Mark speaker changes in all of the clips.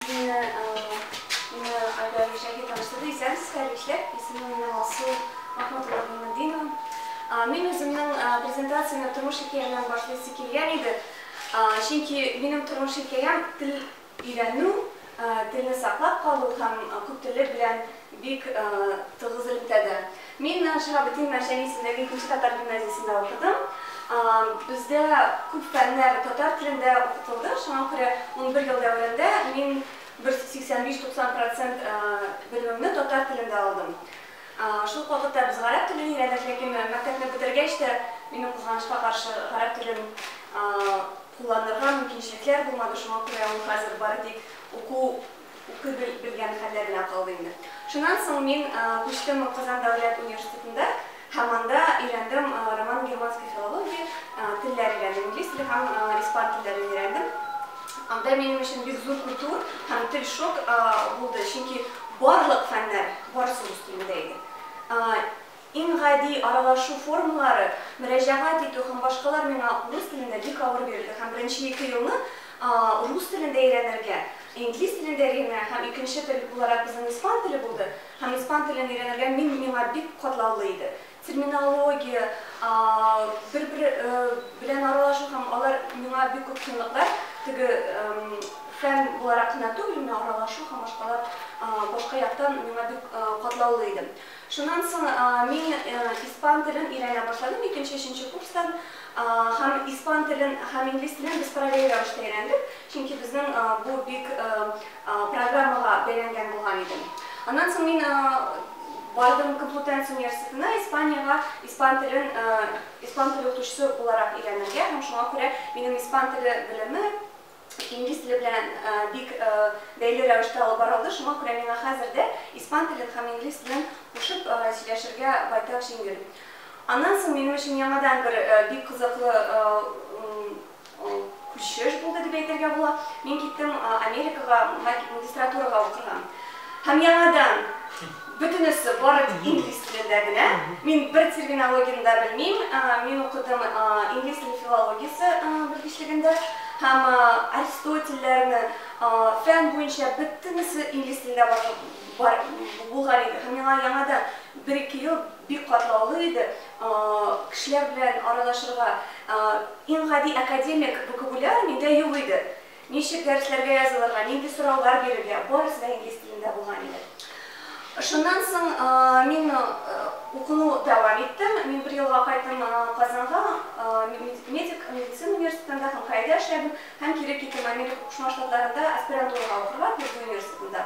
Speaker 1: Мине мине Айдар Мишәхи таныштырды. Исәнсез, хәерле Исемем минем Алсу Махмутова Гыйматдинова. Мин үземнең презентациямне тормыш хикәя белән башлыйсы килгән иде. Чөнки минем тормыш хикәям тел өйрәнү, телне саклап калу һәм күптөрлелек белән Бик тыгыз элемтәдә. Мин Шаһабетдин Мәрҗани исемендәге икенче татар гимназиясендә укыдым. Бездә күп фәннәр татар телендә укытылды, шуңа күрә унбер ел дәверендә мин бер 85-90 процент белемемне татар телендә алдым. Шул ук вакытта без гарәп телен өйрәндек, ләкин мәктәпне бетергәч тә минем кызганычка каршы гарәп телен кулланырга мөмкинчелекләр булмады, шуңа күрә ул хәзер бары тик уку укый бел белгән хәлләр белән калды инде. Шуннан соң мин күчтем Казан дәүләт университетында һәм анда өйрәндем роман германской филологии, телләр өйрәндем, инглиз теле һәм испан телләрен өйрәндем. Анда минем өчен бик зур культур һәм тел шок булды, чөнки барлык фәннәр барысы рус телендә иде. Иң гади аралашу формалары, мөрәҗәгать итү һәм башкалар миңа урыс телендә бик авыр бирелде һәм беренче ике елны рус телендә өйрәнергә, инглиз телендә генә һәм икенче тел буларак безнең испан теле булды һәм испан телен өйрәнергә мин миңа бик катлаулы иде. Терминология, бер-бер белән аралашу һәм алар миңа бик күп кыенлыклар, теге фән буларак кына түгел, менә аралашу һәм башкалар башка яктан миңа бик катлаулы иде. Шуннан соң мин испан телен өйрәнә башладым, икенче, өченче курстан. Һәм испан телен һәм инглиз телен без параллель рәвештә өйрәндек, чөнки безнең бу бик программага бәйләнгән булган иде. Аннан соң мин бардым Комплутенс университетына, Испаниягә, испан телен испан теле укытучысы буларак өйрәнергә. Һәм шуңа күрә минем испан теле белеме, инглиз теле белән бик бәйле рәвештә алып бара алды, шуңа күрә миңа хәзер дә испан телен һәм инглиз телен кушып сөйләшергә байтак җиңел. Аннан соң минем өчен яңадан бер бик кызыклы күчеш булды дип әйтергә була. Мин киттем Америкага магистратурага укырга. Һәм яңадан Бөтенесе бары тик инглиз телендә генә. Мин бер терминологияне дә белмим. Мин укыдым инглиз теле филологиясе белгечлегендә һәм Аристотельләрне, фән буенча бөтенесе инглиз телендә бар булган иде. Һәм миңа яңадан бер-ике ел бик катлаулы иде. Кешеләр белән аралашырга иң гади академик вокабуляр миндә юк иде. Ничек дәресләргә язылырга, нинди сораулар бирергә, барысы да инглиз телендә булган иде. Шуннан соң мин укуны дәвам иттем. Мин бер елга кайттым Казанга, медик, медицина университетында һәм Каида эшләдем, һәм кире киттем Америка Кушма Штатларында аспирантурага укырга, Пердью университетында.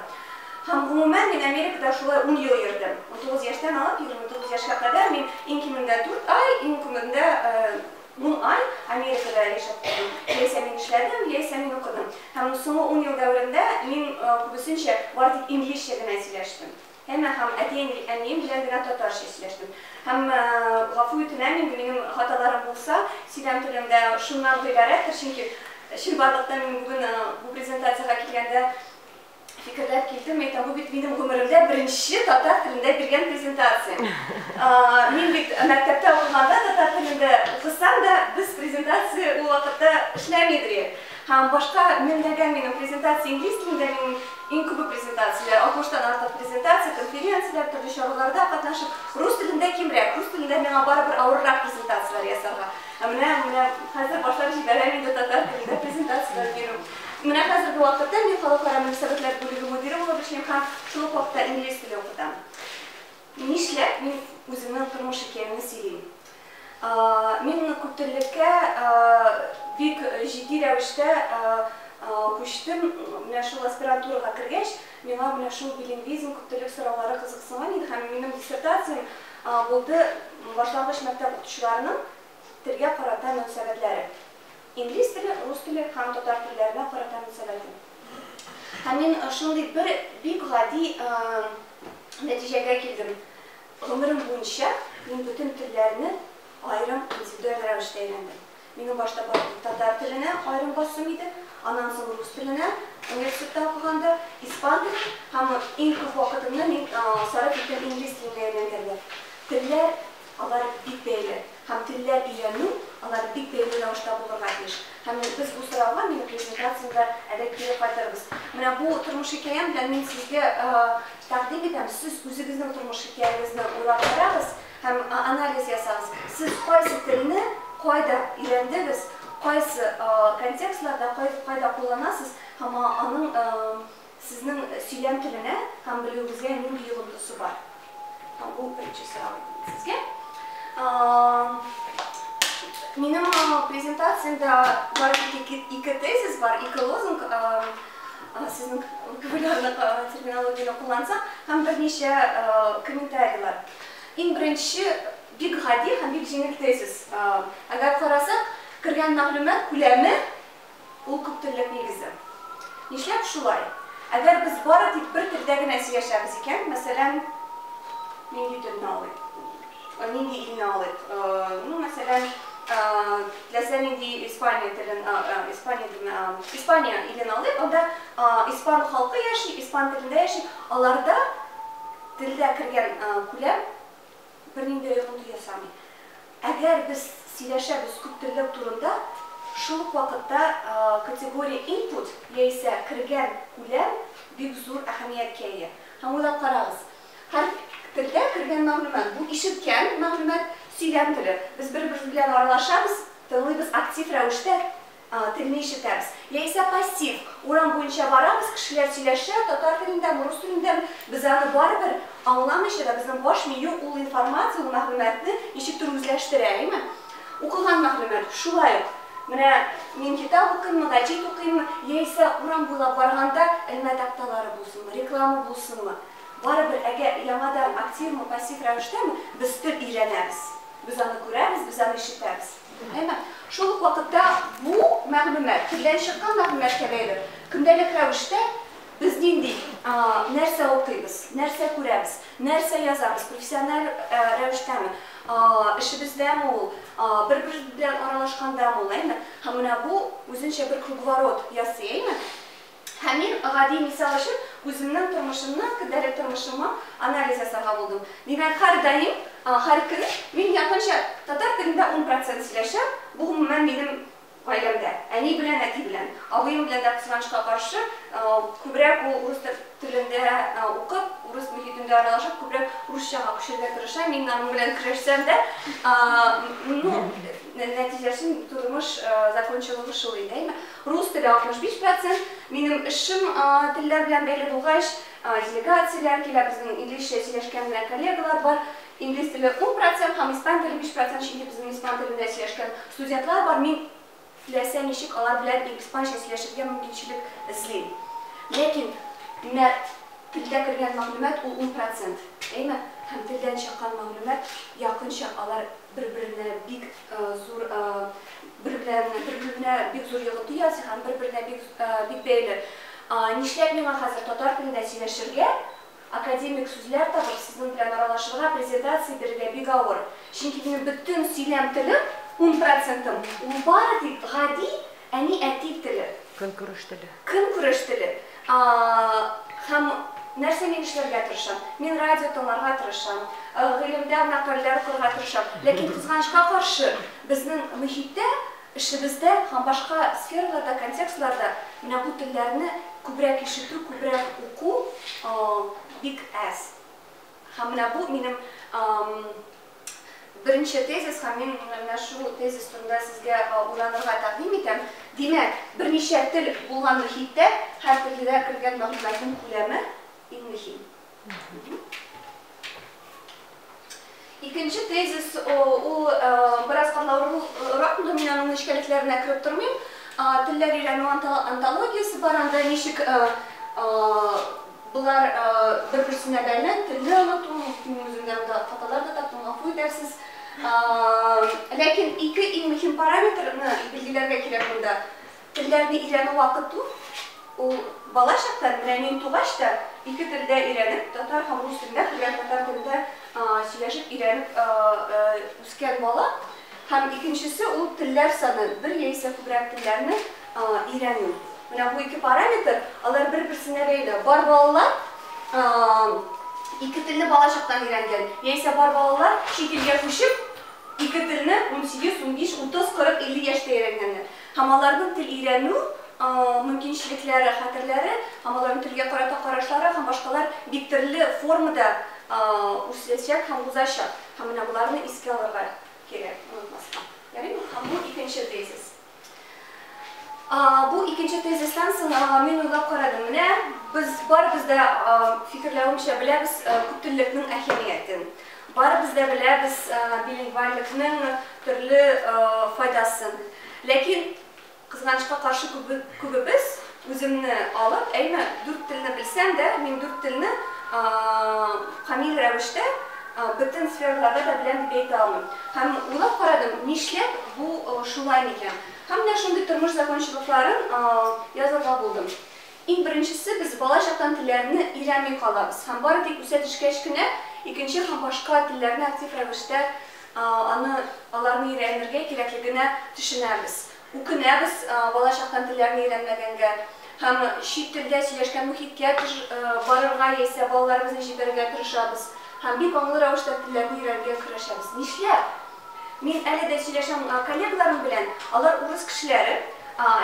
Speaker 1: Һәм гомумән мин Америкада шулай ун ел йөрдем. 19 яшьтән алып 29 яшькә кадәр мин иң кимендә дүрт ай, иң күбендә Ун ай Америкада яшәп калдым. Яисә мин эшләдем, яисә мин укыдым. Һәм соңгы ун ел дәверендә мин күбесенчә бары тик инглизчә генә сөйләштем. Әмма һәм әти-әнием белән генә татарча сөйләштем. Һәм гафу үтенәм инде, минем хаталарым булса, сөйләм телем дә шуннан гыйбарәттер, чөнки чынбарлыкта мин бүген бу презентациягә килгәндә, Фикерләп килдем, әйтәм, бу бит минем гомеремдә беренче татар телендә биргән презентациям. Мин бит мәктәптә укыганда татар телендә укысам да, без презентация ул вакытта эшләми идек. Һәм башка меңләгән минем презентация инглиз телендә, минем иң күбе презентацияләр, 60 тан артык презентация, конференцияләр, төрле чараларда катнашып, рус телендә кимрәк, рус телендә миңа барыбер авыррак презентацияләр ясарга. Ә менә, менә хәзер башлап җибәрәм инде татар телендә презентацияләр бирү. Менә хәзерге вакытта мин халыкара мөнәсәбәтләр бүлеге мөдире булып эшлим һәм шул ук вакытта инглиз теле укытам. Нишләп мин үземнең тормыш хикәямне сөйлим? Мин күптеллеккә бик җитди рәвештә күчтем. Менә шул аспирантурага кергәч, миңа менә шул билингвизм, күптеллек сораулары кызыксынган иде һәм минем диссертациям булды Башлангыч мәктәп укытучыларының телгә карата мөнәсәбәтләре. Инглиз теле, рус теле һәм татар телләренә карата мөнсәбәтем. Һәм мин шундый бер бик гади нәтиҗәгә килдем, гомерем буенча мин бөтен телләрне аерым, индивидуаль рәвештә өйрәндем. Минем башта барыбер татар теленә аерым басуым иде, аннан соң рус теленә, университетта укыганда, испан теле һәм иң күп вакытымны мин сарыф иттем инглиз теленә өйрәнгәндә. Телләр. Алар бик бәйле. Һәм телләр өйрәнү алар бик бәйле рәвештә булырга тиеш. Һәм менә без бу сорауга минем презентациямдә әле кире кайтырбыз. Менә бу тормыш хикәям белән мин сезгә тәкъдим итәм, сез үзегезнең тормыш хикәягезне уйлап карагыз һәм анализ ясагыз. Сез кайсы телне кайда өйрәндегез, кайсы контекстларда, кайда кулланасыз һәм аның Сезнең сөйләм теленә һәм белүегезгә нинди йогынтысы бар? Һәм бу беренче сорау инде сезгә. Минем презентациямдә бар тик ике тезис бар, ике лозунг, сезнең популярлык терминологияне куллансак, һәм берничә комментарийлар. Иң беренче бик гади һәм бик җиңел тезис. Әгәр карасак, кергән мәгълүмат күләме Ул күптеллек нигезе. Нишләп шулай? Әгәр без бары тик бер телдә генә сөйләшәбез икән, мәсәлән, нинди телне алыйк, нинди илне алыйк, ну, мәсәлән, теләсә нинди Испания телен, Испания телен, Испания илен алыйк, анда испан халкы яши, испан телендә яши, аларда телдә кергән күләм, бернинди йогынты ясамый. Әгәр без сөйләшәбез күптеллек турында, шул ук вакытта категория input яисә кергән күләм бик зур әһәмияткә ия. Һәм уйлап карагыз, һәр телдә кергән мәгълүмат, бу ишеткән мәгълүмат, сөйләм теле. Без бер-беребез белән аралашабыз, тыңлыйбыз, актив рәвештә А, телне ишетәбез. Яисә пассив, урам буенча барабыз, кешеләр сөйләшә, татар телендәме, рус телендәме, без аны барыбер аңламыйча да, безнең баш мию ул информация, ул мәгълүматны ничектер үзләштерә, әйеме? Укыган мәгълүмат, шулай ук, менә мин китап укыйммы, гәҗит укыйммы, яисә урам буйлап барганда элмә такталары булсынмы, реклама булсынмы, барыбер, әгәр яңадан активмы, пассив рәвештәме, без тел өйрәнәбез, без аны күрәбез, без аны ишетәбез. Әмма шул ук вакытта бу мәгълүмат, телдән чыккан мәгълүматкә бәйле, көндәлек рәвештә без нинди, нәрсә укыйбыз, нәрсә күрәбез, нәрсә язабыз, профессиональ рәвештәме, эшебездәме ул, бер-беребез белән аралашкандамы ул, әйме? Һәм менә бу үзенчә бер круговорот ясый, әйме? Һәм мин гади мисал өчен үземнең тормышымны, көндәлек тормышымы анализ ясарга булдым. Димәк, һәрдаим, һәр көн мин якынча татар телендә ун процент сөйләшәм, бу гомумән минем гаиләмдә, әни белән әти белән. Абыем белән дә кызганычка каршы, күбрәк ул урыс телендә укып, урыс мохитендә аралашып, күбрәк русчага күчәргә тырыша, мин аның белән көрәшсәм дә, ну, нәтиҗәсен тудымыш закончалыгы шул инде, әйме? Рус теле 65 процент. Минем эшем телләр белән бәйле булгач, делегацияләр килә, безнең инглизчә сөйләшкән генә коллегалар бар. Инглиз теле ун процент һәм испан теле биш процент, чөнки безнең испан телендә сөйләшкән студентлар бар. Мин теләсә ничек алар белән испанча сөйләшергә мөмкинчелек эзлим. Ләкин менә телдә кергән мәгълүмат ул ун процент, әйме? Һәм телдән чыккан мәгълүмат якынча алар. бер-беренә бик зур бер-беренә бик зур йогынты ясый һәм бер-беренә бик бик бәйле. Нишләп миңа хәзер татар телендә сөйләшергә, академик сүзләр табып, сезнең белән аралашырга, презентация бирергә бик авыр. Чөнки минем бөтен сөйләм телем, ун процентым, ул бары тик гади Әни, әти теле. Көнкүреш теле. Көнкүреш теле. Һәм нәрсә мин эшләргә тырышам? Мин радио тыңларга тырышам, гыйлемдә мәкальләр укырга тырышам. Ләкин, кызганычка каршы, безнең мохиттә, эшебездә һәм башка сфераларда, контекстларда менә бу телләрне күбрәк ишетү, күбрәк уку бик әз. Һәм менә бу минем беренче тезис һәм мин менә шул тезис турында сезгә уйланырга тәкъдим итәм. Димәк, берничә тел булган мохиттә һәр телдә кергән мәгълүматның күләме иң мөһим. Икенче тезис ул бераз катлаулырак, инде мин аның нечкәлекләренә кереп тормыйм. Телләр өйрәнү антологиясе бар, анда ничек Болар бер-берсенә бәйле, телне оныту, мин үземдә монда хаталар да таптым, гафу итәрсез. Ләкин ике иң мөһим параметрны билгеләргә кирәк монда. Телләрне өйрәнү вакыты ул бала чактан, менә мин тугач та ике телдә өйрәнеп, татар һәм рус телендә, күбрәк татар телендә сөйләшеп өйрәнеп үскән бала, Һәм икенчесе ул телләр саны, бер яисә күбрәк телләрне өйрәнү. Менә бу ике параметр, алар бер-берсенә бәйле. Бар балалар ике телне балачактан өйрәнгән, яисә бар балалар чит илгә күчеп, ике телне 18, 15, 30, 40, 50 яшьтә өйрәнгәннәр. Һәм аларның тел өйрәнү мөмкинчелекләре, хәтерләре, һәм аларның телгә карата карашлары һәм башкалар бик төрле формада үсәчәк һәм узачак. Һәм менә боларны искә алырга кирәк, онытмаска. Ярыймы? Һәм бу икенче тезис. Бу икенче тезистан соң мин уйлап карадым. Менә без барыбыз да фикерләвемчә беләбез күптеллекнең әһәмиятен. Барыбыз да беләбез билингвальлекнең төрле файдасын. Ләкин Кызганычка каршы, күбебез үземне алып, әйме, дүрт телне белсәм дә, мин дүрт телне камил рәвештә бөтен сфераларда да беләм дип әйтә алмыйм. Һәм уйлап карадым, нишләп бу шулай микән? Һәм менә шундый тормыш закончалыкларын язырга булдым. Иң беренчесе, без бала чактан телләрне өйрәнми калабыз һәм бары тик үсә төшкәч кенә икенче һәм башка телләрне актив рәвештә Аны аларны өйрәнергә кирәклегенә төшенәбез. Үкенәбез балачактан телләрне өйрәнмәгәнгә һәм чит телдә сөйләшкән мохиткә барырга яисә балаларыбызны җибәрергә тырышабыз һәм бик аңлы рәвештә телләрне өйрәнергә көрәшәбез. Нишләп? Мин әле дә сөйләшәм коллегаларым белән, алар урыс кешеләре,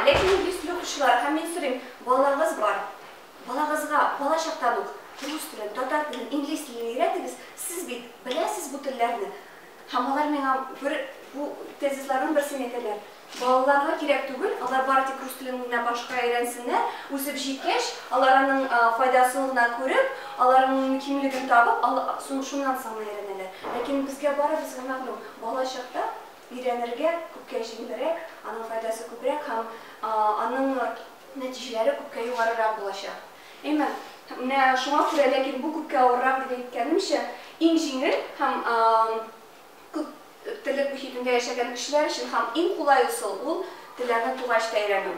Speaker 1: ләкин инглиз теле укучылар һәм мин сорыйм, балаларыгыз бар, Балагызга балачактан ук рус телен, татар телен, инглиз телен өйрәтегез, сез бит беләсез бу телләрне. Һәм алар миңа бер бу тезисларның берсен әйтәләр, балаларга кирәк түгел, алар бары тик рус телен генә башка өйрәнсеннәр, үсеп җиткәч, алар аның файдасын гына күреп, алар аның мөһимлеген табып, сон шуннан соң гына өйрәнәләр. Ләкин безгә барыбызга мәгълүм, балачакта өйрәнергә күпкә җиңелрәк, аның файдасы күбрәк һәм аның нәтиҗәләре күпкә югарырак булачак. Әмма менә шуңа күрә, ләкин бу күпкә авыррак дип әйткәнемчә, иң җиңел һәм күп терлек мөхитендә яшәгән кешеләр өчен һәм иң кулай ысул ул, телләрне тугач та өйрәнү.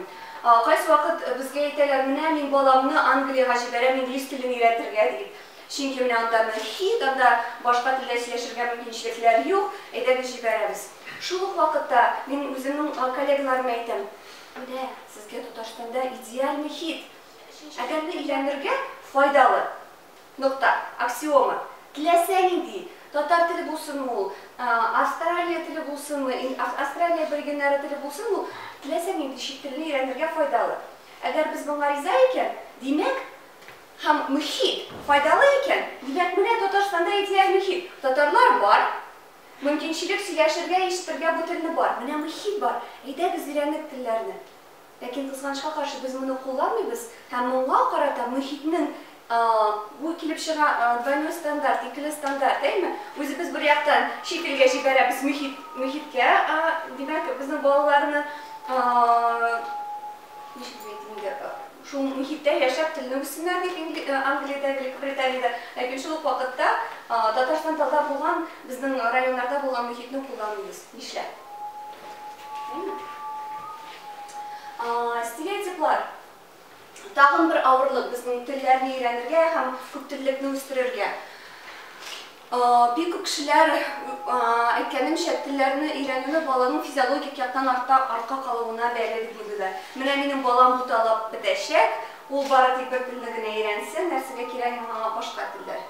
Speaker 1: Кайсы вакыт безгә әйтәләр, менә мин баламны Англиягә җибәрәм инглиз телен өйрәтергә дип, чөнки менә анда мөхит, анда башка телдә сөйләшергә мөмкинчелекләр юк, әйдәгез җибәрәбез. Шул ук вакытта мин үземнең коллегаларыма әйтәм, Менә сезгә Татарстанда идеальный хит! Адәмне өйләнергә файдалы. Нокта. Аксиома. Теләсә нинди, татар теле булсынмы ул, Австралия теле булсынмы, Австралия аборигеннары теле булсынмы ул, теләсә нинди чит телне өйрәнергә файдалы. Әгәр без моңа риза икән, димәк, һәм мохит файдалы икән, димәк, менә Татарстанда идеальный хит! Татарлар бар! Мөмкинчелек сөйләшергә, ишетергә бу телне бар. Менә мохит бар, әйдәгез өйрәнек телләрне. Ләкин кызганычка каршы без моны кулланмыйбыз һәм моңа карата мохитнең бу килеп чыга двойной стандарт, икеле стандарт, әйме? Үзебез бер яктан чит илгә җибәрәбез мохит, мохиткә, димәк, безнең балаларны, ничек дип әйтим инде, Шул мохиттә яшәп, телне үссеннәр дип, Англиядә, Великобританиядә, ләкин шул ук вакытта Татарстан таза булган, безнең районнарда булган мохитне кулланмыйбыз. Нишләп? Әйеме? Стереотиплар тагын бер авырлык безнең телләрне өйрәнергә һәм күптеллекне үстерергә. Бик күп кешеләр, әйткәнемчә, телләрне өйрәнүе баланың физиологик яктан артта артка калуына бәйле дип уйлыйлар. Менә минем балам буталып бетәчәк, ул бары тик бер телне генә өйрәнсен, нәрсәгә кирәк миңа аңа башка телләр?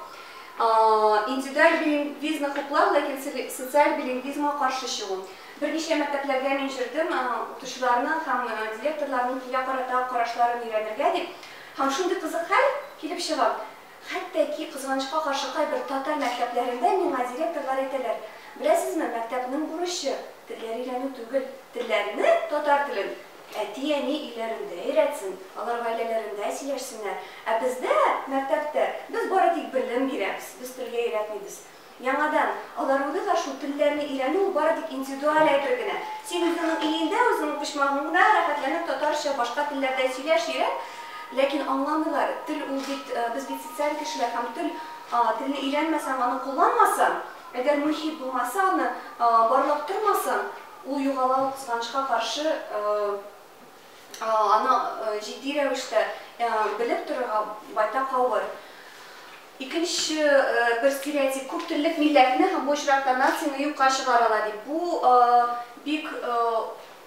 Speaker 1: Индивидуаль билингвизмны хуплау, ләкин социаль билингвизмга каршы чыгу. Берничә мәктәпләргә мин йөрдем, укытучыларның һәм директорларның телгә карата карашларын өйрәнергә дип. Һәм шундый кызык хәл килеп чыга, Хәтта ки, кызганычка каршы, кайбер татар мәктәпләрендә миңа директорлар әйтәләр, Беләсезме, мәктәпнең бурычы, телләр өйрәнү түгел, телләрне, татар телен, әти-әни өйләрендә өйрәтсен, алар гаиләләрендә сөйләшсеннәр, ә бездә, мәктәптә, без бары тик белем бирәбез, без телгә өйрәтмибез. Яңадан, алар үгез ашу, телләрне өйрәнү ул бары тик индивидуаль әйбер генә. Син үзеңнең өеңдә, үзеңнең почмагыңда рәхәтләнеп татарча, башка телләрдә сөйләш, өйрән, ләкин аңламыйлар, тел ул бит, без бит социаль кешеләр һәм тел, телне өйрәнмәсәң, аны кулланмасаң, әгәр мохит булмаса, аны барлап тормасаң, ул югала, ул кызганычка каршы, аны җитди рәвештә белеп торырга байтак авыр. Икенче бер стереотип, күп теллек милләтне һәм бу очракта нацияне юкка чыгара ала дип. Бу бик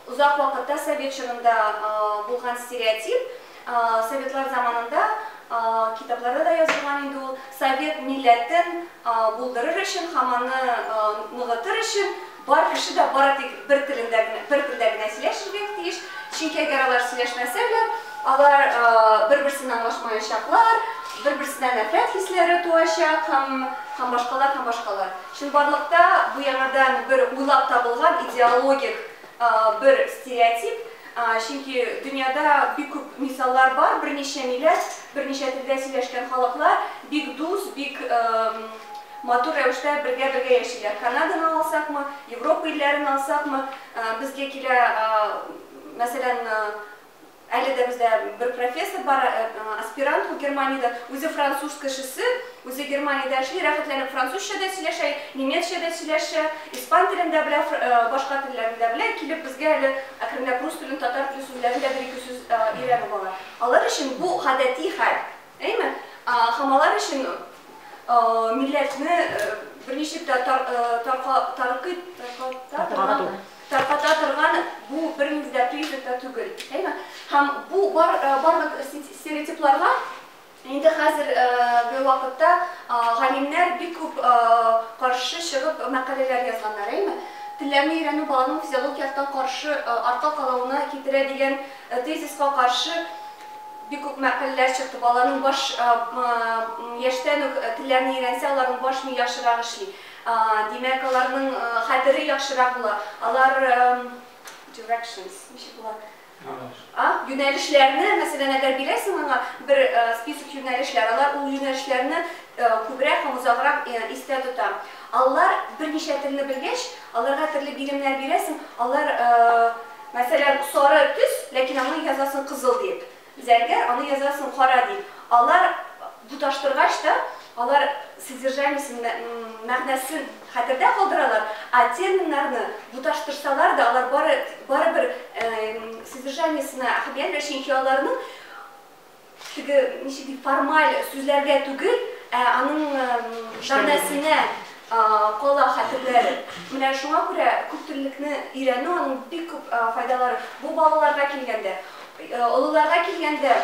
Speaker 1: озак вакытта совет чорында булган стереотип. Советлар заманында китапларда да язылган инде ул. Совет милләтен булдырыр өчен һәм аны ныгытыр өчен Бар кеше дә бары тик бер телендә генә, бер телдә генә сөйләшергә тиеш, чөнки әгәр алар сөйләшмәсәләр, алар бер-берсен аңлашмаячаклар, бер-берсенә нәфрәт хисләре туачак һәм, һәм башкалар, һәм башкалар. Чынбарлыкта бу яңадан бер уйлап табылган идеологик бер стереотип, Чөнки дөньяда бик күп мисаллар бар, берничә милләт, берничә телдә сөйләшкән халыклар бик дус, бик матур рәвештә бергә-бергә яшиләр. Канаданы алсакмы, Европа илләрен алсакмы, безгә килә, мәсәлән, әле дә бездә бер профессор бар, аспирант ул Германиядән, үзе француз кешесе, Үзе Германиядә эшли, рәхәтләнеп французча да сөйләшә, немецча да сөйләшә, испан телен дә белә, башка телләрне дә белә. Килеп безгә әле әкренләп рус телен, татар теле сүзләрен дә бер-ике сүз өйрәнеп ала. Алар өчен бу гадәти хәл, әйме? Һәм алар өчен милләтне берничек тә таркый тарката торган бу бернинди дә признак та түгел, әйме? Һәм бу барлык стереотипларга Инде хәзер ге вакытта галимнәр бик күп каршы чыгып мәкаләләр язганнар, әйме? Телләрне өйрәнү баланың физиологик яктан каршы артка калауына китерә дигән тезиска каршы бик күп мәкаләләр чыкты. Баланың баш яшьтән үк телләрне өйрәнсә, аларның баш мие яхшырак эшли. Димәк, аларның хәтере яхшырак була. Алар Directions, ничек була? А, юнәлешләрне, мәсәлән, әгәр бирәсең аңа бер список юнәлешләр, алар ул юнәлешләрне күбрәк һәм озаграк истә тота. Алар берничә телне белгәч, аларга төрле биремнәр бирәсең, алар, мәсәлән, сары төс, ләкин аңа язасың кызыл дип. Зәңгәр, аны язасың кара дип. Алар Тоташтыргач та, алар содержаниесен, мәгънәсен хәтердә калдыралар, ә терминнарны тоташтырсалар да, алар бары, барыбер содержаниесенә әһәмият бирә, чөнки аларның теге, ничек дим, формаль сүзләргә түгел, ә аның мәгънәсенә кала хәтерләре. Менә шуңа күрә күптөрлелекне өйрәнү, аның бик күп файдалары, бу балаларга килгәндә. Олыларга килгәндә.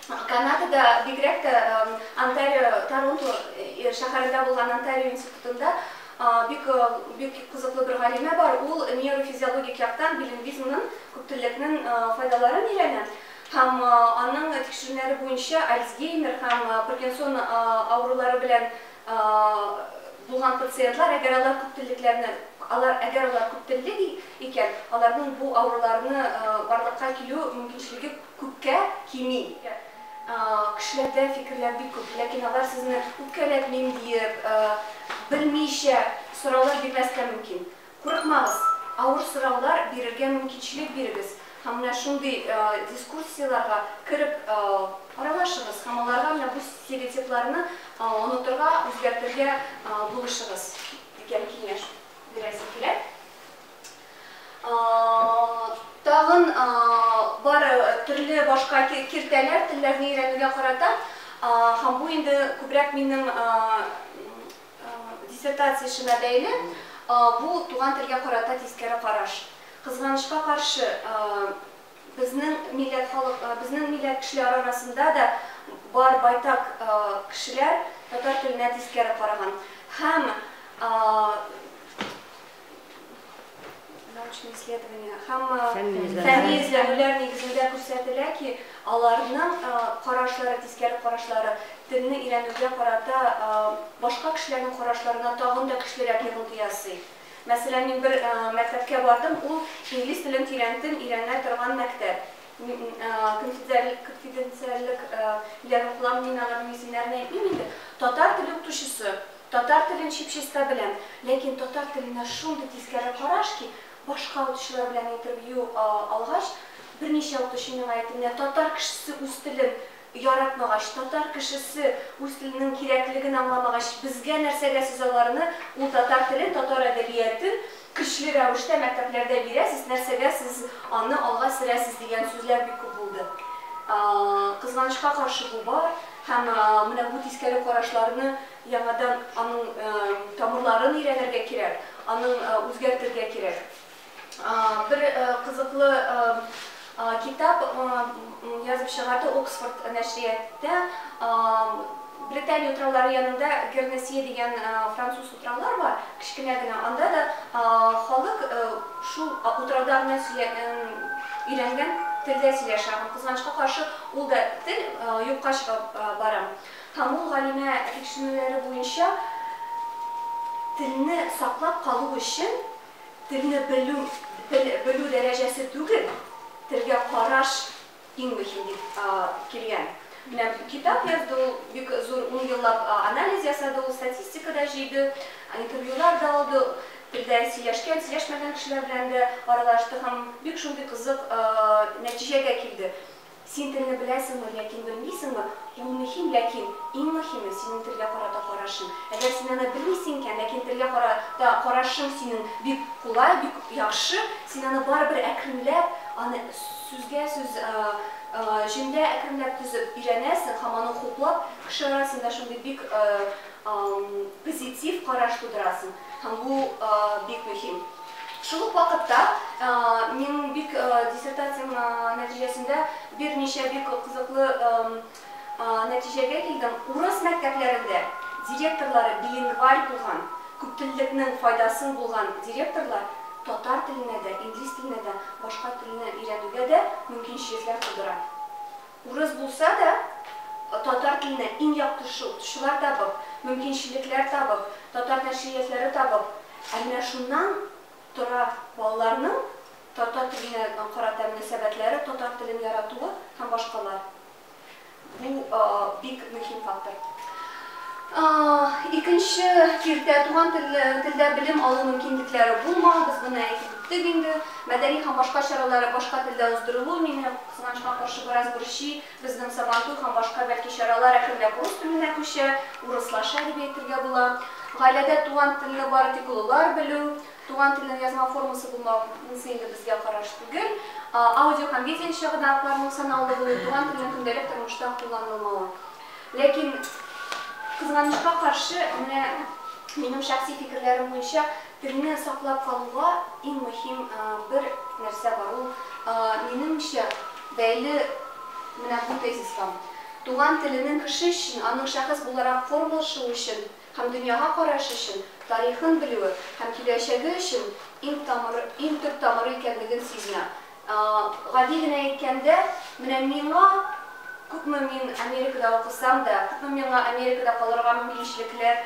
Speaker 1: Канадада, бигрәк тә Онтарио, Торонто шәһәрендә булган Онтарио институтында бик бик кызыклы бер галимә бар. Ул нейрофизиологик яктан билингвизмның, күптеллекнең файдаларын өйрәнә һәм аның тикшерүләре буенча Альцгеймер һәм Паркинсон авырулары белән булган пациентлар, әгәр алар күптеллекләрне алар әгәр алар күптеллек икән, аларның бу авыруларны барлыкка килү мөмкинчелеге Күпкә кими. Кешеләрдә фикерләр бик күп, ләкин алар сезне үпкәләтмим диеп, белмичә сораулар бирмәскә мөмкин. Курыкмагыз, авыр сораулар бирергә мөмкинчелек бирегез һәм менә шундый дискуссияләргә кереп аралашыгыз һәм аларга менә бу стереотипларны онытырга, үзгәртергә булышыгыз, дигән киңәш бирәсем килә. Тагын бар төрле башка киртәләр телләрне өйрәнүгә карата, һәм бу инде күбрәк минем диссертация эшемә бәйле, бу туган телгә карата тискәре караш. Кызганычка каршы, безнең милләт халык, безнең милләт кешеләре арасында да бар байтак кешеләр татар теленә тискәре караган. Һәм. научный исследование һәм фәнни эзләнүләр нигезендә күрсәтелә ки, аларның карашлары, тискәре карашлары телне өйрәнүгә карата башка кешеләрнең карашларына тагын да көчлерәк йогынты ясый. Мәсәлән, мин бер мәктәпкә бардым, ул инглиз телен тирәнтен өйрәнә торган мәктәп. Конфиденциальлек белән укылам, мин аларның исемнәрен әйтмим инде. Татар теле укытучысы Татар телен чип-чиста беләм, ләкин татар теленә шундый тискәре караш ки, башка укытучылар белән интервью алгач, берничә укытучы миңа әйтте, менә татар кешесе үз телен яратмагач, татар кешесе үз теленең кирәклеген аңламагач, безгә нәрсәгә сез аларны, ул татар телен, татар әдәбиятен, Көчле рәвештә мәктәпләрдә бирәсез, нәрсәгә сез аны алга сөрәсез дигән сүзләр бик күп булды. Кызганычка каршы бу бар һәм менә бу тискәре карашларны яңадан аның тамырларын өйрәнергә кирәк, аның үзгәртергә кирәк. Бер кызыклы Китап язып чыгарды Оксфорд нәшрияты. Британия утраулары янында Гернесие дигән француз утраулар бар, кечкенә генә. Анда да халык шул утрауда гына өйрәнгән телдә сөйләшә һәм, кызганычка каршы, ул да тел юкка чыгып бара. Һәм ул галимә тикшеренүләре буенча, телне саклап калу өчен Телне белү, тел белү дәрәҗәсе түгел, телгә караш иң мөһим дип килгән. Менә китап язды ул, бик зур ун еллап анализ ясады ул, статистика да җыйды, интервьюлар да алды, телдә сөйләшкән, сөйләшмәгән кешеләр белән дә аралашты һәм бик шундый кызык нәтиҗәгә килде. Син телне беләсеңме, ләкин белмисеңме, ул мөһим, ләкин иң мөһиме, синең телгә карата карашың. Әгәр син аны белмисең икән, ләкин телгә карата карашың синең бик кулай, бик яхшы, син аны барыбер әкренләп, аны сүзгә сүз, җөмлә әкренләп төзеп өйрәнәсең һәм аны хуплап, кеше арасында шундый бик позитив караш тудырасың. Һәм бу бик мөһим. Шул ук вакытта минем бик диссертациям нәтиҗәсендә берничә бик кызыклы нәтиҗәгә килдем. Урыс мәктәпләрендә директорлары билингваль булган, күптеллекнең файдасын булган директорлар татар теленә дә, инглиз теленә дә, башка телне өйрәнүгә дә мөмкинчелекләр тудыра. Урыс булса да, татар теленә иң якты шул, укытучылар табып, мөмкинчелекләр табып, татар нәшриятләре табып. Ә менә шуннан тора балаларның татар теленә карата мөнәсәбәтләре, татар телен яратуы һәм башкалар. Бу бик мөһим фактор. Икенче киртә, туган телдә белем алу мөмкинлекләре булмау, без моны әйтеп үттек инде. Мәдәни һәм башка чаралары башка телдә уздырылуы мине Кызганычка каршы, бераз борчый, безнең Сабантуй һәм башка бәлки чаралар әкренләп урыс теленә күчә, урыслаша дип әйтергә була. Гаиләдә туган телне бары тик олылар белү, туган телнең язма формасы булмау, монысы инде безгә караш түгел. Аудио һәм видео чыганакларның санаулы булуы, туган телнең көндәлек тормышта кулланылмавы. Ләкин, кызганычка каршы, менә минем шәхси фикерләрем буенча, Телне саклап калуга иң мөһим бер нәрсә бар, ул, минемчә, бәйле менә бу тезиска, туган теленең кеше өчен, аның шәхес буларак формалашуы өчен һәм дөньяга карашы өчен, тарихын белүе һәм киләчәге өчен иң тамыры, иң төп тамыры икәнлеген сизенә. Гади генә әйткәндә, менә миңа, күпме мин Америкада укысам да, күпме миңа Америкада калырга мөмкинчелекләр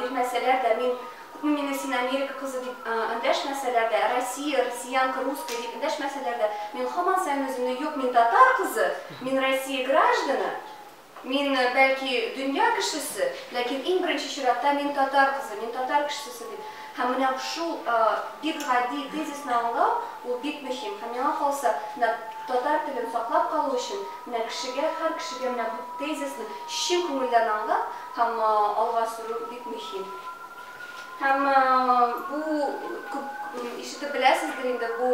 Speaker 1: бирмәсәләр дә, мин, күпме мине син Америка кызы дип эндәшмәсәләр дә, Россия, россиянка, русская дип эндәшмәсәләр дә, мин һаман саен үземне, юк, мин татар кызы, мин Россия гражданы, Мин, бәлки, дөнья кешесе, ләкин иң беренче чиратта мин татар кызы, мин татар кешесесе дип. Һәм менә шул бик гади тезисны аңлау, ул бик мөһим. Һәм миңа калса, менә татар телен саклап калу өчен, менә кешегә, һәр кешегә менә бу тезисны чын күңелдән аңлап һәм алга сөрү бик мөһим. Һәм бу күп ишетеп беләсездер инде, бу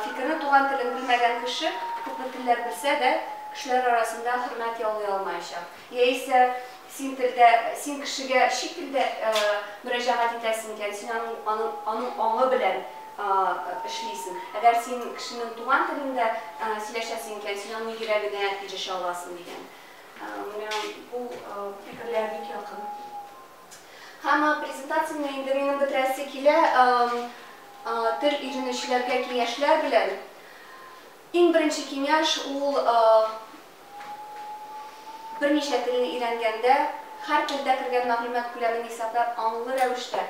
Speaker 1: фикерне туган телен белмәгән кеше күпме телләр белсә дә, кешеләр арасында хөрмәт яулый алмаячак. Яисә син телдә, син кешегә чит телдә мөрәҗәгать итәсең икән, син аның аның аңы белән эшлисең. Әгәр син кешенең туган телендә сөйләшәсең икән, син аның йөрәгенә ирешә аласың, дигән. Менә бу фикерләр бик якын. Һәм презентацияне инде минем бетерәсе килә. Тел өйрәнүчеләргә киңәшләр белән. Иң беренче киңәш ул берничә телне өйрәнгәндә, һәр телдә кергән мәгълүмат күләмен исәпләп, аңлы рәвештә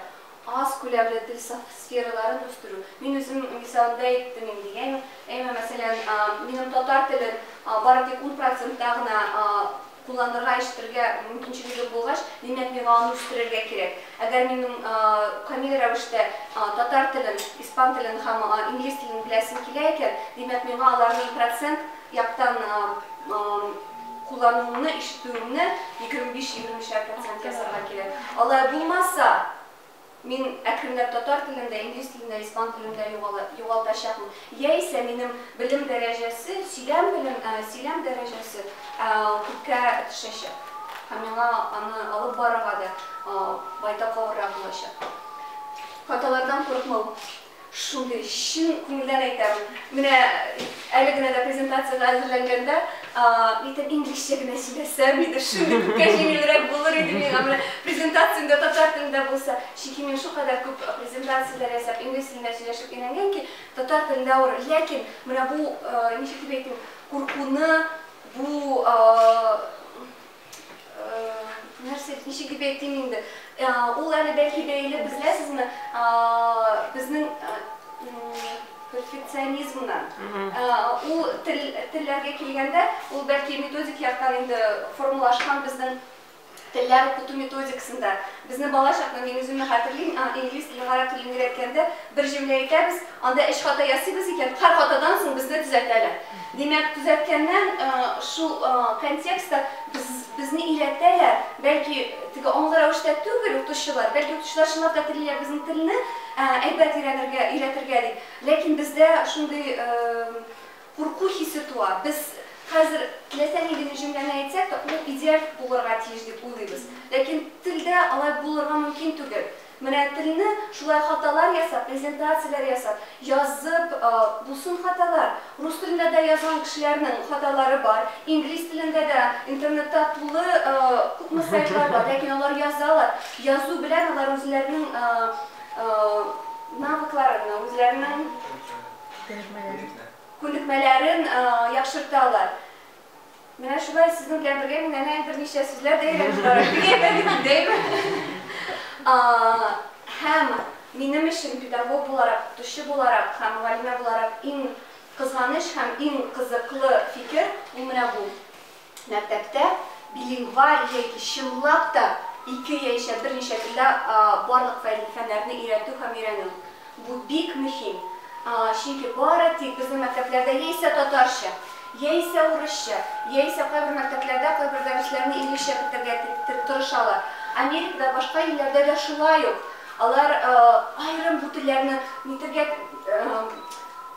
Speaker 1: Аз күләмле тел сфераларын үстерү. Мин үзем мисалында әйттем инде, яме, әмма, мәсәлән, минем татар телен бары тик ун процентта гына кулланырга, ишетергә мөмкинчелегем булгач, димәк, миңа аны үстерергә кирәк. Әгәр минем камил рәвештә татар телен, испан телен һәм инглиз телен беләсем килә икән, димәк, миңа аларның процент яктан куллануыңны, ишетүеңне егерме биш, егерме өчәр процент ясарга кирәк. Алай булмаса, мин әкренләп татар телен дә, инглиз телен дә, испан телен дә югалтачакмын. Яисә минем белем дәрәҗәсе, сөйләм белем, сөйләм дәрәҗәсе күпкә төшәчәк. Һәм миңа аны алып барырга да байтак авыррак булачак. Хаталардан курыкмау. Шундый чын күңелдән әйтәм. Менә әле генә дә презентациягә әзерләнгәндә, әйтәм, инглизчә генә сөйләсәм иде, шундый күпкә җиңелрәк булыр иде миңа, менә презентация инде татар телендә булса. Чөнки мин шулкадәр күп презентацияләр ясап, инглиз телендә сөйләшеп өйрәнгән ки, татар телендә авыр. Ләкин менә бу, ничек дип әйтим, куркуны, бу Нәрсә, ничек дип әйтим инде? Ул әле бәлки бәйле, беләсезме, безнең перфекционизмнан. Ул телләргә килгәндә, ул бәлки методик яктан инде формалашкан безнең телләр укыту методикасында. Безнең бала чакта, мин үземне хәтерлим, инглиз телен, гарәп телен өйрәткәндә, бер җөмлә әйтәбез, Анда өч хата ясыйбыз икән, һәр хатадан соң безне төзәтәләр. Димәк, төзәткәннән шул контекстта безне өйрәтәләр, бәлки теге аңлы рәвештә түгел укытучылар, бәлки укытучылар чынлап та телиләр безнең телне әйбәт өйрәнергә, өйрәтергә дип, ләкин бездә шундый курку хисе туа, без хәзер теләсә нинди генә җөмләне әйтсәк тә, ул идеаль булырга тиеш дип уйлыйбыз, ләкин телдә алай булырга мөмкин түгел. Менә телне шулай хаталар ясап, презентацияләр ясап, язып булсын хаталар. Рус телендә дә язган кешеләрнең хаталары бар, инглиз телендә дә интернетта тулы күпме сайтлар бар, ләкин алар язалар. Язу белән алар үзләренең навыкларын, үзләренең күнекмәләрен яхшырталар. Менә шулай сезнең белән бергә мин әнә берничә сүзләр дә өйрәнеп барам. Бигрәк тә мин дәйме? Һәм минем өчен педагог буларак, укытучы буларак һәм мөгаллимә буларак иң кызганыч һәм иң кызыклы фикер ул менә бу. Мәктәптә билингваль яки чынлап та ике яисә берничә телдә барлык фәннәрне өйрәтү һәм өйрәнү. Бу бик мөһим, аңа, чөнки бары тик безнең мәктәпләрдә яисә татарча, яисә урысча, яисә кайбер мәктәпләрдә кайбер дәресләрне инглизчә кертергә тырышалар. Америкада, башка илләрдә дә шулай ук. Алар аерым бу телләрне нитергә,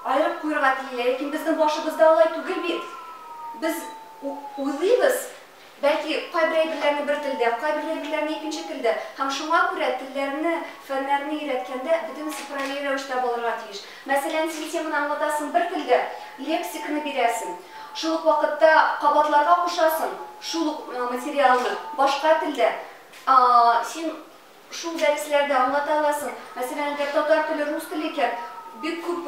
Speaker 1: аерып куерга телиләр, ләкин безнең башыбызда алай түгел бит. Без уйлыйбыз, Бәлки, кайбер әйберләрне бер телдә, кайбер әйберләрне икенче телдә, һәм шуңа күрә телләрне, фәннәрне өйрәткәндә бөтен цифрави рәвештә булырга тиеш. Мәсәлән, син теманы аңлатасың бер телдә, лексиканы бирәсең, шул ук вакытта кабатларга кушасың шул ук материалны башка телдә, син Шул дәресләрдә аңлата аласың. Мәсәлән, әгәр татар теле, рус теле икән, бик күп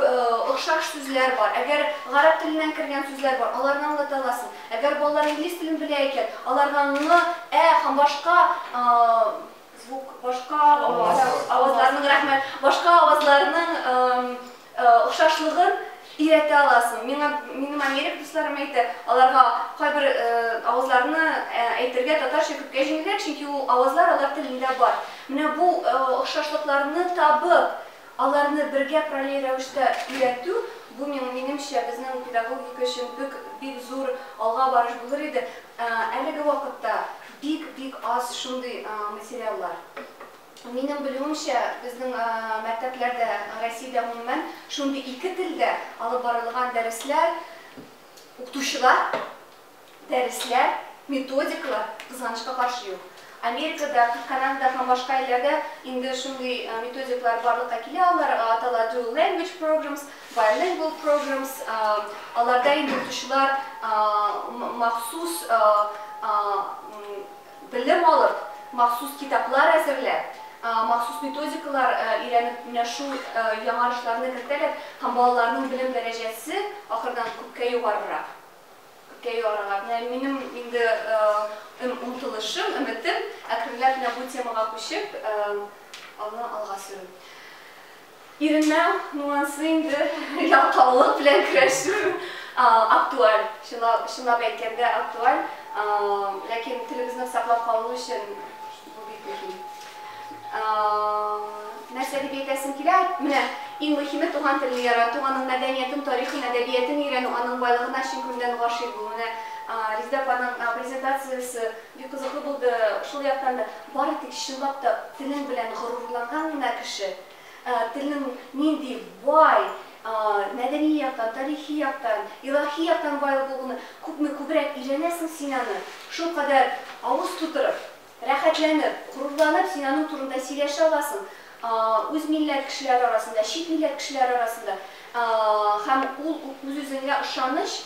Speaker 1: охшаш сүзләр бар. Әгәр гарәп теленнән кергән сүзләр бар, аларны аңлата аласың. Әгәр балалар инглиз телен белә икән, аларга ны, ә һәм башка звук, башка авазларның, рәхмәт, башка авазларның Охшашлыгын өйрәтә аласың. Миңа минем америк дусларым әйтә, аларга кайбер авазларны әйтергә татарча күпкә җиңелрәк, чөнки ул авазлар алар телендә бар. Менә бу охшашлыкларны табып, аларны бергә параллель рәвештә өйрәтү, бу миң минемчә, безнең педагогика өчен бик бик зур алга барыш булыр иде. Әлеге вакытта бик-бик аз шундый материаллар. Минем белүемчә, безнең мәктәпләрдә, Россиядә гомумән, шундый ике телдә алып барылган дәресләр, укытучылар, дәресләр, методикалар, кызганычка каршы, юк. Америкада, Канадада һәм башка илләрдә инде шундый методикалар барлыкка килә, алар атала Dual Language Programs, Bilingual Programs, аларда инде укытучылар махсус Белем алып, махсус китаплар әзерләп, махсус методикалар өйрәнеп менә шул яңарышларны кертәләр һәм балаларның белем дәрәҗәсе ахырдан күпкә югарырак, күпкә югарырак. Менә минем инде омтылышым, өметем, әкренләп менә бу темага күчеп, аны алга сөрү. Иреннән нуансы инде ялкаулык белән көрәшү актуаль, чынлап әйткәндә актуаль, ләкин телебезне саклап калу өчен бу бик мөһим. Нәрсә дип әйтәсем килә, менә иң мөһиме туган телне ярату, аның мәдәниятен, тарихын, әдәбиятен өйрәнү, аның байлыгына чын күңелдән гашыйк булу. Менә Резидә апаның презентациясе Бик кызыклы булды шул яктан да. Бары тик чынлап та телең белән горурланган гына кеше, телнең нинди бай, мәдәни яктан, тарихи яктан, илаһи яктан бай булуны күпме күбрәк өйрәнәсең, син аны шулкадәр авыз тутырып, рәхәтләнеп, горурланып син аның турында сөйләшә аласың, үз милләт кешеләре арасында, чит милләт кешеләре арасында. Һәм ул үз-үзеңә ышаныч,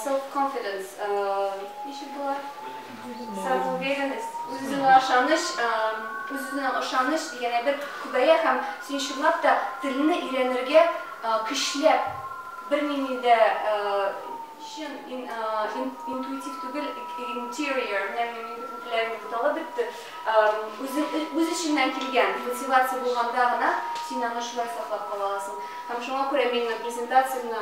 Speaker 1: Self confidence ничек була? Самоуверенность, үз-үзеңә ышаныч, үз-үзеңә ышаныч дигән әйбер күбәя һәм син чынлап та телне өйрәнергә көчләп бернинди дә чын интуитив түгел interior таләп итте. Үз эчеңнән килгән мотивация булганда гына син аны шулай саклап кала аласың. Һәм шуңа күрә мин презентациямне